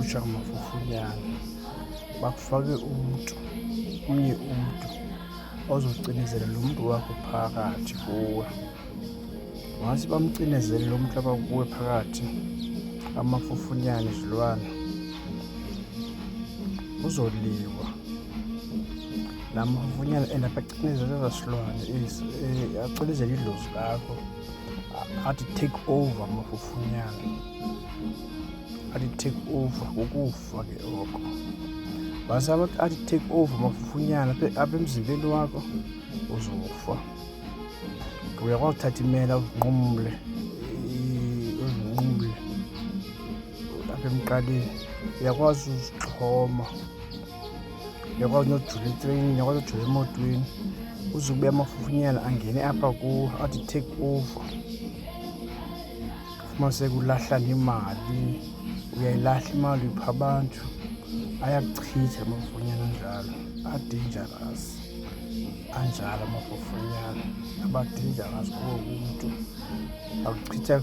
kuhlutshwa ngamafufunyana bakufake umntu omnye umntu ozocinezela lo mntu wakho phakathi kuwe ngase bamcinezele lo mntu abakuwe phakathi amafufunyana izilwana uzoliwa laa mavunyana and abacinezela eza silwane eh, acinezela idlozi lakho athi take over mafufunyana athi take over ngokufa ke oko base athi take over mafufunyana apha emzimbeni wakho uzofa uyakwazi uthatha imela uzinqumle uzinqumle apha emqaleni uyakwazi uzixhoma yakwazi nojula etreyinini yakwazi nojula emotweni uzube amafufunyana angene apha kuwo athi take over fumaniseka ulahla nemali uyayilahla imali upha abantu ayakuchitha amafufunyana anjalo adangerous anjalo amafufunyana abadangerous kuwo umntu akuchitha